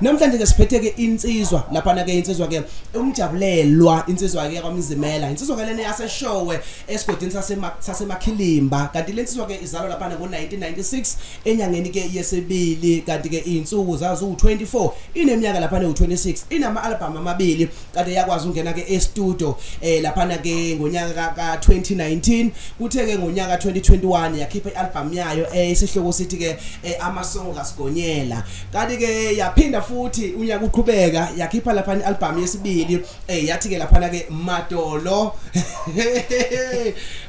namhlanje ke siphethe ke insizwa laphana ke insizwa ke umjabulelwa insizwa ke kwamzimela insizwa ke lena yaseshowe esigodini sasemakhilimba kanti le nsizwa ke izalwa laphana ngo-1996 enyangeni ke yesibili kanti ke iy'nsuku zaziwu-24 ineminyaka laphana ewu-26 inama-albhamu amabili kade yakwazi ukungena ke e-studio eh laphana ke ngonyaka ka 2019 kuthe ke ngonyaka 2021 yakhipha i-album yayo eh isihloko sithi ke eh, amasongo kasigonyela kanti ke yaphinda futhi unyaka uqhubeka yakhipha laphana i-album yesibili eh yathi ke laphana ke madolo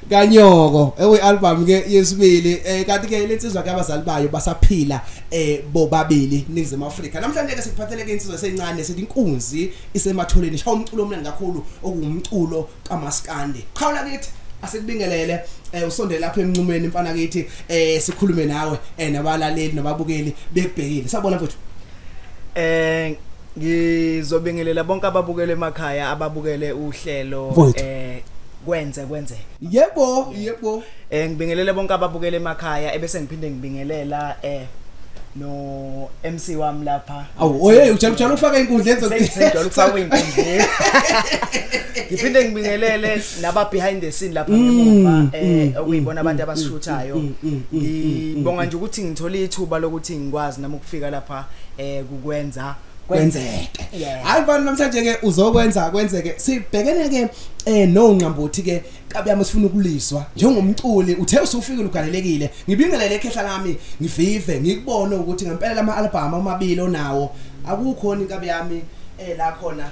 kanyoko ewe album ke yesibili eh kanti ke lensizwa ke abazali bayo basaphila eh bobabili ningizema Africa namhlanje ke sikuphathele ke insizwa esencane sithi inkunzi isematholeni shawa umculo omnandi kakhulu okuwumculo kamaskandi qhawula kithi asikubingelele eh usondele lapha emnqumeni mfana kithi eh sikhulume nawe eh nabalaleli nababukeli bebhekile sabona mfethu eh ngizobingelela bonke ababukele emakhaya ababukele uhlelo eh kwenze kwenzeke yebo yebo eh ngibingelele bonke ababukele emakhaya ebese ngiphinde ngibingelela eh no MC wami lapha awu oye ujala ujala ukufaka inkundla enzo ngijala ukufaka inkundla ngiphinde ngibingelele naba behind the scene lapha mm, ngemuva eh mm, okuyibona mm, abantu abasishuthayo ngibonga nje ukuthi ngithole ithuba lokuthi ngikwazi nami ukufika lapha eh kukwenza kwenzeke Yeah. hayi bani namhlanje ke uzokwenza kwenzeke sibhekene ke eh no ngqambuthi ke kabiyami sifuna ukulizwa njengomculi uthe usufika ugalelekile ngibingelele ekhehla lami ngivive ngikubone ukuthi ngempela lama album amabili onawo akukhona inkabi yami eh la khona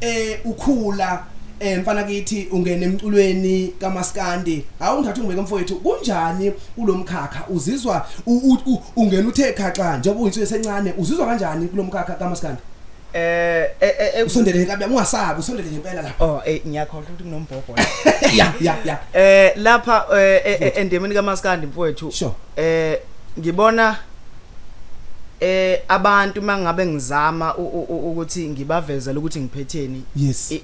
eh ukhula eh mfana kithi ungena emculweni kamaskandi hawu ngithatha ungibeke mfowethu kunjani kulomkhakha uzizwa ungena uthe khaxa njengoba uyinsuku esencane uzizwa kanjani kulomkhakha kamaskandi eh, eh, eh, eh usondele kabi ungasabi usondele ngempela lapha oh eh ngiyakholwa ukuthi kunombhobho ya ya ya eh lapha endemeni kamaskandi mfowethu eh ngibona eh abantu mangabe ngizama ukuthi ngibavezela ukuthi ngiphetheni yes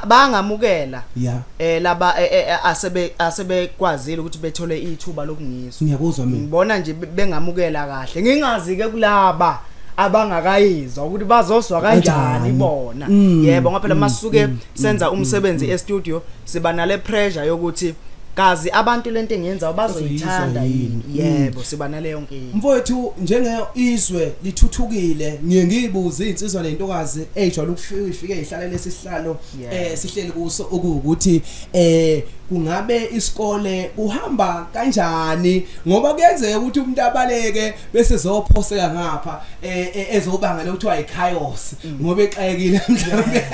bangamukela yeah eh laba e, e, e, asebe asebekwazile ukuthi bethole ithuba lokungizwa ngiyakuzwa mina ngibona nje bengamukela kahle ngingazi ke kulaba abangakayizwa ukuthi bazozwa kanjani bona mm. yebo ngoba phela masuke mm. senza mm, mm, umsebenzi mm. e-studio siba nale pressure yokuthi kazi abantu lento engiyenzayo bazoyithanda yini yebo siba naleyo nkinga mfowethu njenge izwe lithuthukile ngiye ngiyibuze izinsizwa nentokazi ejwayele ukufika ifike ihlalele isihlalo eh sihleli kuso ukuthi eh kungabe isikole kuhamba kanjani ngoba kuyenzeka ukuthi umuntu abaleke bese zophoseka ngapha eh, eh, ezobanga lokuthiwa ichaos ngoba exakekile mhlawumbe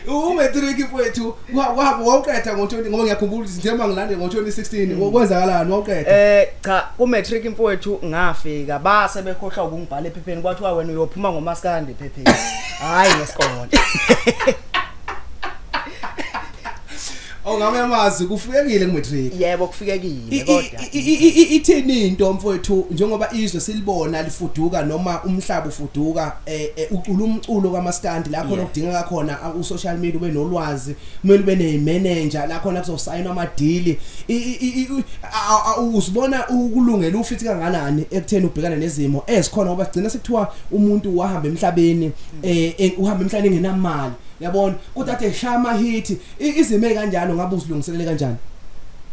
umetric mfowethu wawuqeda ngo-20 ngoba ngiyakhumbula ukuthi njengoba ngilande ngo-2016 mm. kwenzakalani wawuqeda eh cha kumetric mfowethu ngafika base bekhohlwa ukungibhala ephepheni kwathiwa wena uyophuma ngomaskandi ephepheni hhayi ngesikole Ongame amazi kufikekile kumatric. Yebo kufikekile kodwa. Ithini into mfowethu njengoba izwe silibona lifuduka noma umhlaba ufuduka eh, eh, ucula umculo kamaskandi lapho lokudingeka khona u social media ube nolwazi kumele ube ne manager la khona kuzosayina ama deal. Usibona ukulungela ufithi kanganani ekutheni ubhekane nezimo ezikhona ngoba sigcina sekuthiwa umuntu wahamba emhlabeni eh, eh uhamba emhlabeni engenamali yabona kodwa athe shaya amahithi I- izime kanjalo ngabe uzilungiselele kanjani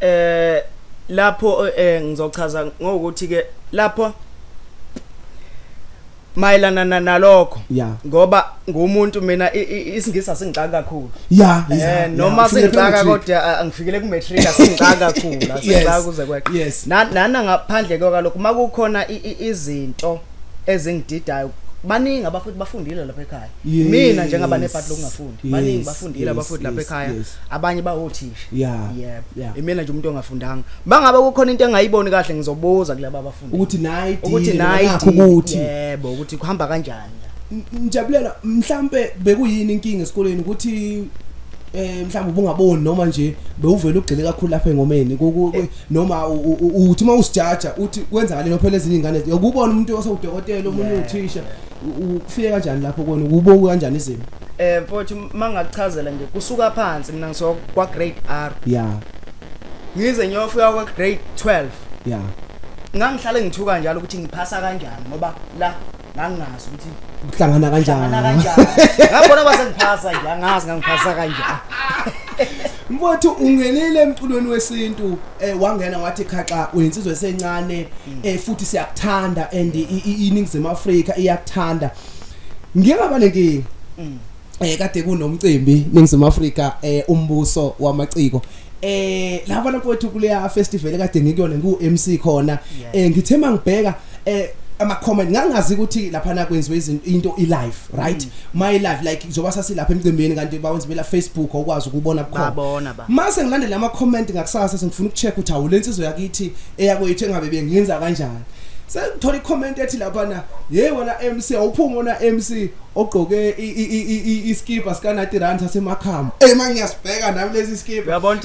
eh lapho eh ngizochaza ngokuthi ke lapho mayelana na- nalokho Ya. ngoba ngumuntu mina i- i- isingisi asingixaka kakhulu ya ya, ya, eh noma ufike sengixaka kule matric. kodwa ah, angifikele ku matric asingixaka kakhulu Yes, asingixaka kuze kweqe yes. Na- nana ngaphandle kwalokho makukhona i- i- izinto ezingididayo baningi abafuthi bafundile lapha ekhaya yes. mina njengaba nebhadi lokungafundi yes. baningi bafundile yes. abafuthi lapha ekhaya yes. abanye bawothisha yeah. yep. yeah. imina nje umuntu ongafundanga bangabe kukhona into engayiboni kahle ngizobuza kulaba abafundi ukuthi nayi ukuthi nayi ukuthi yebo ukuthi kuhamba kanjani ngijabulela mhlambe bekuyini inkinga esikoleni ukuthi eh mhlawumbe ubungaboni noma nje bewuvela ugxile kakhulu lapha engomeni eh, noma uthi uma usijaja uthi kwenzakaleni phela ezinye ingane yokubona umuntu osewudokotela omunye uthisha ufike kanjani lapho kona ukuboku kanjani izimo eh mfowethu mangachazela nje kusuka phansi mina ngiso kwa grade R yeah ngize ngiyofika kwa grade 12 yeah ngangihlale ngithuka njalo ukuthi ngiphasa kanjani ngoba la ngangingazi ukuthi uhlangana kanjani ngabona basengiphasa nje angazi ngangiphasa kanjani mfowethu ungenile emculweni wesintu eh wangena wathi khaxa uyinsizwe esencane mm. eh futhi siyakuthanda and iningizimu Afrika iyakuthanda ngiyaba nenkingi mm. eh kade kunomcimbi ningizimu Africa eh umbuso wamaciko eh laba nakwethu kuleya festival kade ngikuyona ngu MC khona eh ngithe mangibheka eh ama comment ngangazi ukuthi lapha na kwenziwe izinto into i live right mm. my live like njengoba sasilapha emcimbini kanti bawenza bela Facebook okwazi ukubona bukhona babona ba mase ngilandela ama comment ngakusasa sengifuna ukucheck ukuthi awu lensizwe yakithi eyakwethu engabe bengenza kanjani sengithola i comment ethi lapha na hey wena MC awuphuma wena MC ogqoke iskipa sikanati run sasemakhama eyi ma ngiyasibheka nami lesi skipa uyabona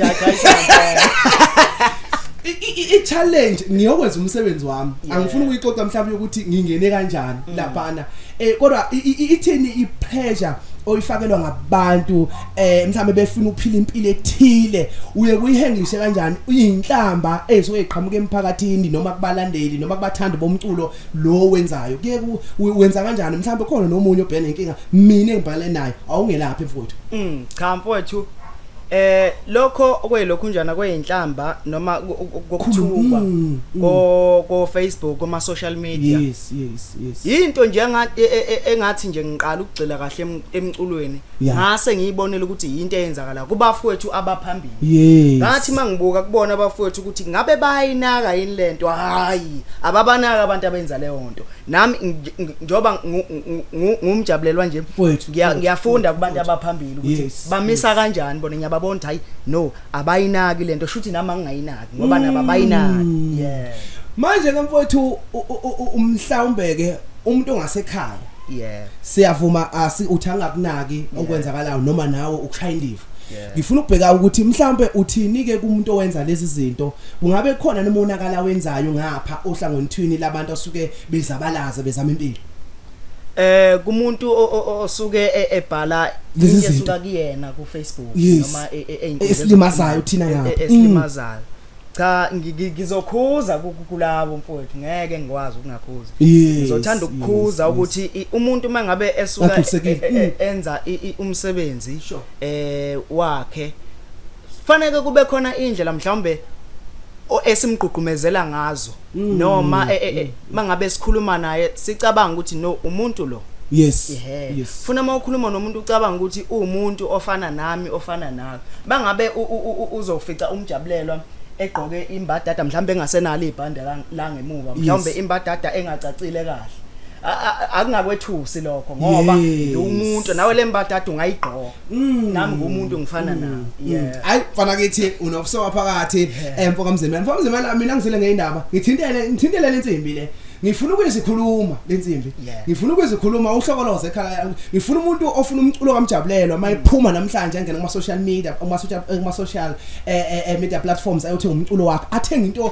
i-challenge ngiyokwenza umsebenzi wami angifuni ukuyixoxa mhlawumbe yokuthi ngingene kanjani mm. laphana um kodwa ithini i-pressure oyifakelwa ngabantu eh mhlambe befuna ukuphila impilo ethile uye kuyihengishe kanjani uyinhlamba ezoyiqhamuka emphakathini noma kubalandeli noma kubathandi bomculo lo wenzayo kuye wenza kanjani mhlawumbe khona nomunye obhena inkinga mina ngibhale naye awungelaphi mfowethu mm cha mfowethu eh lokho kwelokhu njana kweinhlamba noma kokuthukwa mm, mm. ko ko Facebook kuma social media yes yes yes into nje e, e, e, engathi nje ngiqala ukugcila kahle emculweni ngase ngiyibonela ukuthi into eyenzakala kubafowethu abaphambili Yes. Ngathi mangibuka kubona abafowethu ukuthi ngabe bayinaka yini lento hayi ababanaka abantu abenza leyo nto nami njoba ngumjabulelwa nje ngiyafunda kubantu abaphambili ukuthi bamisa kanjani bona ngiyababona ukuthi hayi no abayinaki lento shuthi nami angingayinaki ngoba nabo mm. abayinaki yeah manje ke mfowethu umhlawumbe ke umuntu ongasekhaya yeah siyavuma asi uthi angakunaki okwenzakalayo noma nawe ukushaya indiva ngifuna ukubheka ukuthi mhlambe uthini ke kumuntu owenza lezi zinto kungabe khona nomonakala wenzayo ngapha ohlangothini labantu asuke bezabalaza bezama impilo eh kumuntu osuke e, ebhala lezi zinto kuyena ku Facebook noma e, e, eyinto esilimazayo thina ngapha esilimazayo mm. cha ngi- ngi- ngizokhuza ku- ku- kulabo mfowethu ngeke ngikwazi ukungakhuza Yes, ngizothanda ukukhuza yes, ukuthi i- umuntu uma ngabe esuka Agculisekile. e- e- e- enza i- i- umsebenzi Sure. eh wakhe faneke kube khona indlela mhlawumbe o- esimgqugqumezela ngazo Mm. noma eh, eh, eh, mangabe sikhuluma naye sicabanga ukuthi no umuntu lo yes Ehhe. yes funa uma ukhuluma nomuntu ucabanga ukuthi uwumuntu ofana nami ofana nawe bangabe u- u- u- u- uzofica umjabulelwa egqoke imbadada mhlawumbe engasenalo ibhande la- la ngemuva mhlawumbe Yes. imbadada engacacile kahle A- a- akungakwethusi lokho ngoba Yes. lo umuntu nawe le mbadada ungayigqoka Mm. nami ngumuntu ngifana mm. nawe mm. hayi mfana kithi unokusoka phakathi emfo kamzimela mfo kamzimela mina ngizile ngeindaba ngithintele ngithintele lensimbi le ngifuna ukuzikhuluma lensimbi ngifuna ukuzikhuluma uhlokoloze ekhaya ngifuna umuntu ofuna umculo kamjabulelo uma ephuma namhlanje angena kuma social media kuma social kuma social eh, eh, eh, media platforms ayothi umculo wakhe athenga into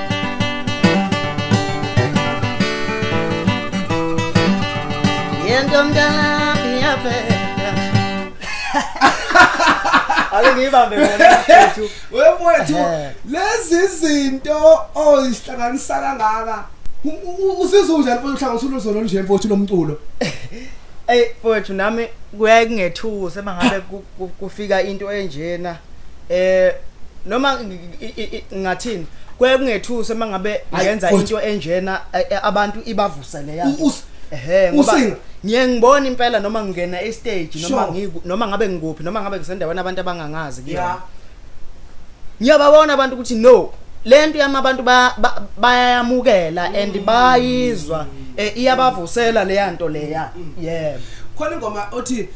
Yento mntana iyabheka. Ake ngiyibambe ngona mfethu. Wemfethu Eh. lezi zinto oyihlanganisa kangaka usizwe unjani mfethu uhlanganisa ulozolo olunje mfethu lomculo. Ey mfethu nami kuyaye kungethusa mangabe ku- ku- kufika into enjena. eh noma ngathini kuye kungethusa mangabe ngenza into enjena eh, eh, abantu ibavusele yazi ehe ngoba ngiye ngibona impela noma ngingena e stage noma ngiku noma ngabe ngikuphi noma ngabe ngisendaweni abantu abangangazi kuyona ngiyababona abantu ukuthi no lento yami abantu bayayamukela ba, ba and bayizwa eh, iyabavusela leya nto leya mm. yebo khona ingoma othi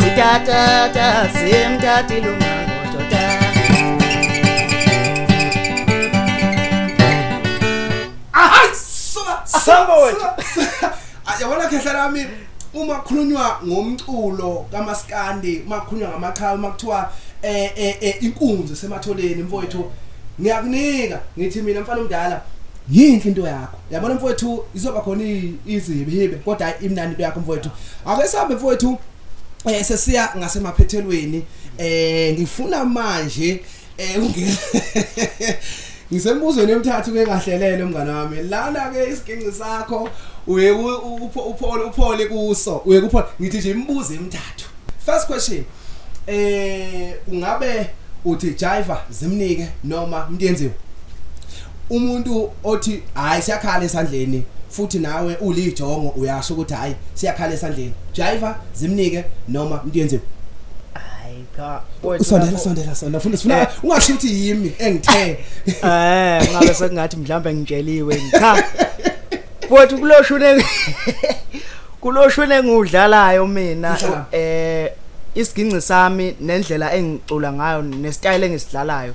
Sitatata simtati lumangoto ta Hayi suka Samba wethu. Ah, Yabona khehla lami uma kukhulunywa ngomculo kamaskandi uma kukhulunywa ngamaqhawe uma kuthiwa eh eh eh, inkunzi esematholeni mfowethu ngiyakunika ngithi mina mfana omdala yinhle into yakho yabona mfowethu izoba khona izihibihibe kodwa hayi imnandi into yakho mfowethu ake sihambe mfowethu eh sesiya ngasemaphethelweni eh ngifuna manje eh ungena ngisembuzweni emthathu ke kahlelele umngane wami lana ke isiginci sakho uye uphole uphole kuso uye kuphole ngithi nje imibuzo emithathu first question eh ungabe uthi jiva zimnike noma mntenziwe umuntu othi hayi siyakhala esandleni futhi nawe ulijongo uyasho ukuthi hayi siyakhala esandleni jiva zimnike noma mntiyenzeni cha usondela sondela sondela funa sifuna eh. ungasho ukuthi yimi engithe eh ngabe sekungathi mhlawumbe ngitsheliwe cha futhi kuloshune kuloshune ngudlalayo mina eh isiginci sami nendlela engicula ngayo nestyle engisidlalayo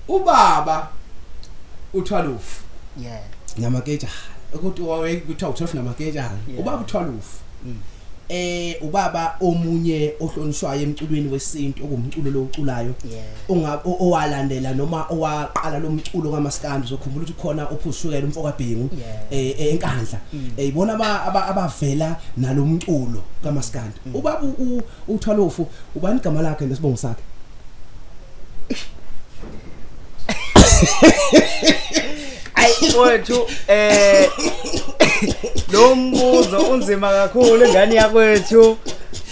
ubaba uthwalufu yeah namaketshana ukuthi wawe kuthiwa uthwalufu namaketshana ubaba uthwalufu mm. eh ubaba omunye ohlonishwayo emculweni wesintu okumculo loculayo owalandela noma owaqala lomculo kaMaskandi uzokhumbula ukuthi khona ophushukela umfoka Bhengu eh, eh enkandla mm. eh, ibona abavela nalomculo kaMaskandi mm. ubaba uthwalofu ubani igama lakhe nesibongo sakhe Ayi mfowethu eh lo mbuzo unzima kakhulu ingane yakwethu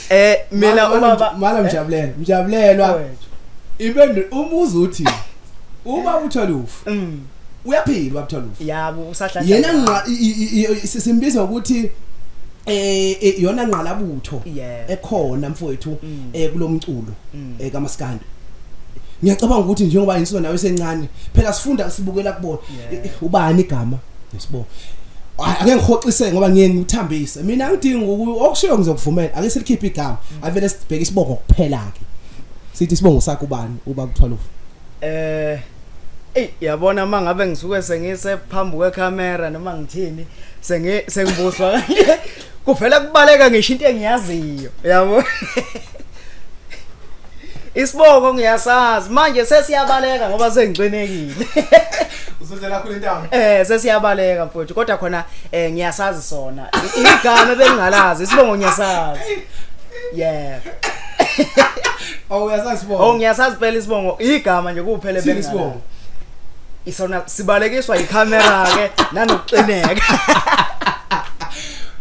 eh mina ubaba mala mjabulelo mjabulelwa impendulo umuzi uthi uma uthola ufu mm. uyaphila ubaba Tholufu yabo usahlanza yena ngqa i- i- i- i- simbiza ukuthi eh eh, yona ngqalabutho Yeah. ekhona mfowethu eh kulomculo eh kamaskanda ngiyacabanga ukuthi njengoba insizwa nawe sencane phela sifunda sibukela kubona Yeah. Eh, eh, ubani igama yesibo Ay, ake ngihoxise ngoba ngiye ngithambise mina ngidinga uku- okushiyo ngizokuvumela ake silikhiphe igama avele sibheke isibongo kuphela ke sithi isibongo sakho ubani uba kuthwalufu eh Ey yabona mangabe ngisuke sengise phambi kwecamera noma ngithini sengi sengibuswa kanje kuvela kubaleka ngisho into engiyaziyo yabo Isibongo ngiyasazi manje sesiyabaleka ngoba sengigcinekile Usuzela khulu intamo Eh sesiyabaleka mfowethu kodwa khona eh ngiyasazi sona igama bengingalazi isibongo ngiyasazi Yeah Oh uyasazi bongo. Oh ngiyasazi phela isibongo. Igama nje kuphele bengala. Isibongo. Isona sibalekiswa iCamera ke nanokuxineka.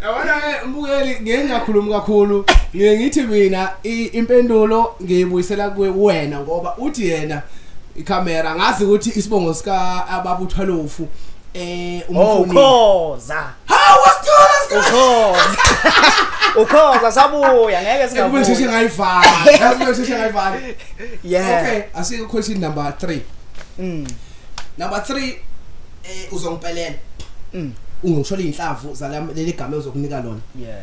Yabona ke mbukeli ngeke ngakhulumi kakhulu. Ngeke ngithi mina impendulo ngiyibuyisela kuwe wena ngoba uthi yena iCamera ngazi ukuthi isibongo sika ababuthwalofu eh umfuni. Oh khoza. Hawu wasithola sikhoza. Ukhoza sabuya ngeke Ekube singabuya. ngisheshe ngayivala. Yazi kumele ngisheshe ngayivala. Yeah. Okay, asike question number 3. Mm. Number 3 eh uzongipelela. Mm. Ungishola inhlavu zala leli game uzokunika lona. Yeah.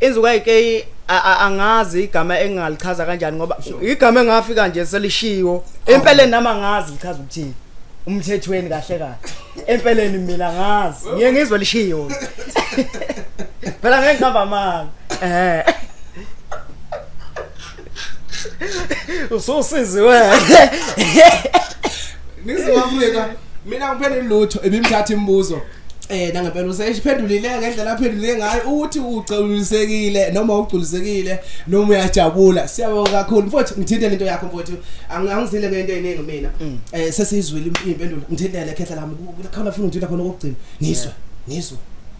Inzuka iK angazi igama engingalichaza kanjani ngoba igama engafika nje selishiwo empeleni nami angazi lichaza ukuthini umthethweni kahle kahle empeleni mina ngazi ngiye ngizwe lishiwo phela ngeke ngihamba manga eh Ususizi wena. Ngiziwa Afrika. Mina ngiphendule lutho ebimthatha imibuzo. Eh nangempela useyiphendulile ngendlela aphendule ngayo ukuthi ugculisekile noma ugculisekile noma uyajabula siyabonga kakhulu mfowethu ngithinte lento yakho mfowethu angizile ngento eyiningi mina mm. eh sesizwile impendulo ngithintele khehla lami kukhona funa ngithinte khona kokugcina ngizwe ngizwe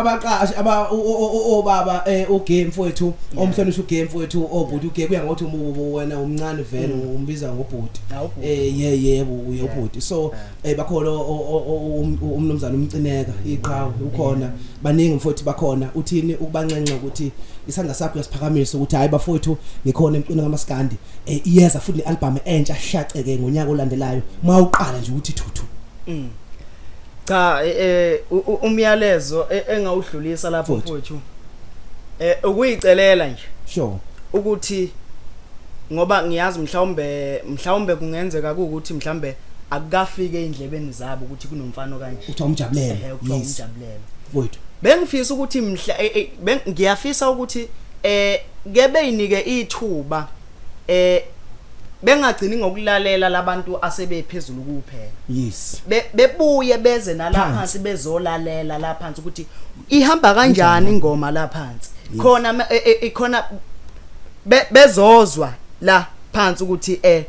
abaqashi aba obaba eh, ugame mfowethu omhlonisa ugame mfowethu obhuti ugame kuya ngokuthi umubo wena umncane vele mm. umbiza ngobhuti eh ye yebo uyobhuti so eh bakhona umnumzana umcineka iqhawe ukhona baningi mfowethu bakhona uthini ukubanxenxa ukuthi isandla sakho uyasiphakamisa ukuthi hayi bafowethu ngikhona emqini kamaskandi eh iyeza futhi album entsha shaceke ngonyaka olandelayo mawuqala nje ukuthi thuthu mm. cha eh, eh umyalezo e, engawudlulisa lapho mfowethu eh ukuyicelela nje sure ukuthi ngoba ngiyazi mhlawumbe mhlawumbe kungenzeka ukuthi mhlambe akukafike eindlebeni zabo ukuthi kunomfana okanje uthiwa umjabulelo ehe kuthiwa yes umjabulelo mfowethu bengifisa ukuthi mhla eh, eh, beng- ngiyafisa ukuthi eh ke beyinike ithuba eh bengagcini ngokulalela labantu asebephezulu kuphela yes Be- bebuye beze nala Phansi. phansi bezolalela la phansi ukuthi ihamba kanjani ingoma la phansi khona ma- e- e- e- khona be- bezozwa la phansi ukuthi eh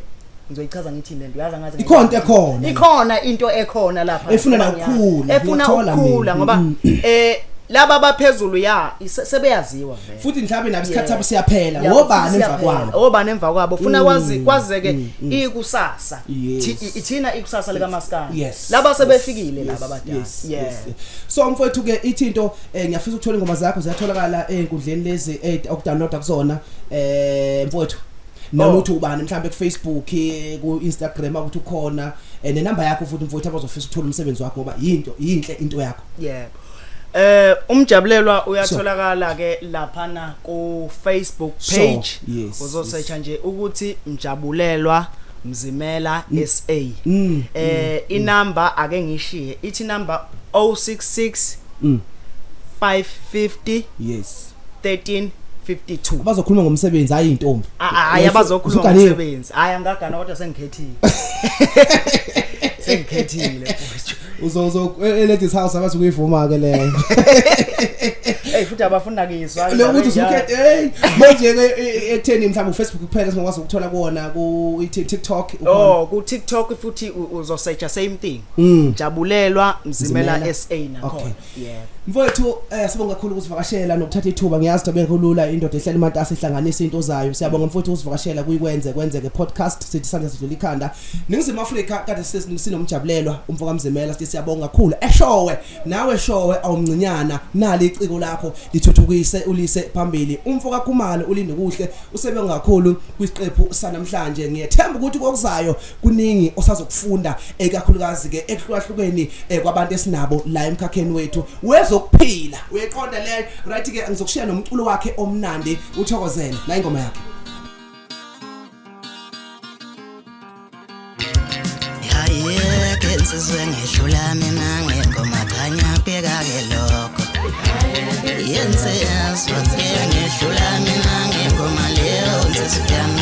ngizoyichaza ngithini lento uyazi angazi ikhona into ekhona ikhona into ekhona lapha efuna nokukhula efuna ukukhula ngoba mm, mm. eh laba baphezulu ya sebeyaziwa vele futhi mhlawumbe nabe isikhathi sabo siyaphela ngobani emva kwabo ngobani emva kwabo funa mm, kwazi kwazeke mm, mm. ikusasa ithina ikusasa lika maskani laba sebefikile laba badala yes so mfowethu ke ithi into eh, ngiyafisa ukuthola ingoma zakho ziyatholakala ezinkundleni lezi eh, okudownloada kuzona eh mfowethu noma oh. uthi ubani mhlambe ku Facebook ku Instagram ukuthi ukhona eh, ne number yakho futhi mfowethu abazofisa ukuthola umsebenzi wakho ngoba yinto yinhle into yakho yebo Eh umjabulelwa uyatholakala ke lapha na ku Facebook page uzosearcha nje ukuthi mjabulelwa mzimela mm. SA mm, eh mm, inamba ake ngishiye ithi number 066 550 yes 1352 bazokhuluma ngomsebenzi hayi intombi hayi abazokhuluma ngomsebenzi hayi angagana kodwa sengikhethile sengikhethile uzozo e- eladies house abathi kuyivuma ke leyo hey futhi abafuna kizwa lokuthi usukhethe hey manje ke e- e- ekutheni mhlawumbe uFacebook kuphela singakwazi ukuthola kuona ku TikTok oh ku TikTok futhi uzosearcha same thing hmm. jabulelwa mzimela SA nakhona Yeah. Mfowethu eh sibonga kakhulu ukusivakashela nokuthatha ithuba ngiyazi ukuthi akekho lula indoda ehlela imatasa ihlanganisa into zayo siyabonga mfowethu ukusivakashela kuyikwenze kwenzeke podcast sithi sandla sidlula ikhanda ningizimu Afrika kade sinomjabulelwa umfoka Mzimela sithi siyabonga kakhulu eshowe nawe showe awumncinyana nali iciko lakho lithuthukise ulise phambili umfoka Khumalo ulinde kuhle usebenza kakhulu kwisiqephu sanamhlanje ngiyethemba ukuthi kokuzayo kuningi osazokufunda ekakhulukazi ke ekuhlukahlukeni eh, kwabantu esinabo la emkhakheni wethu wezokuphila uyeqonda le right ke ngizokushiya nomculo wakhe omnandi uthokozele la ingoma yakhe ngizizwe ngihlula mina ngengoma khanya bheka ke lokho yenze yazwaze ngihlula mina ngengoma leyo nzizwe yami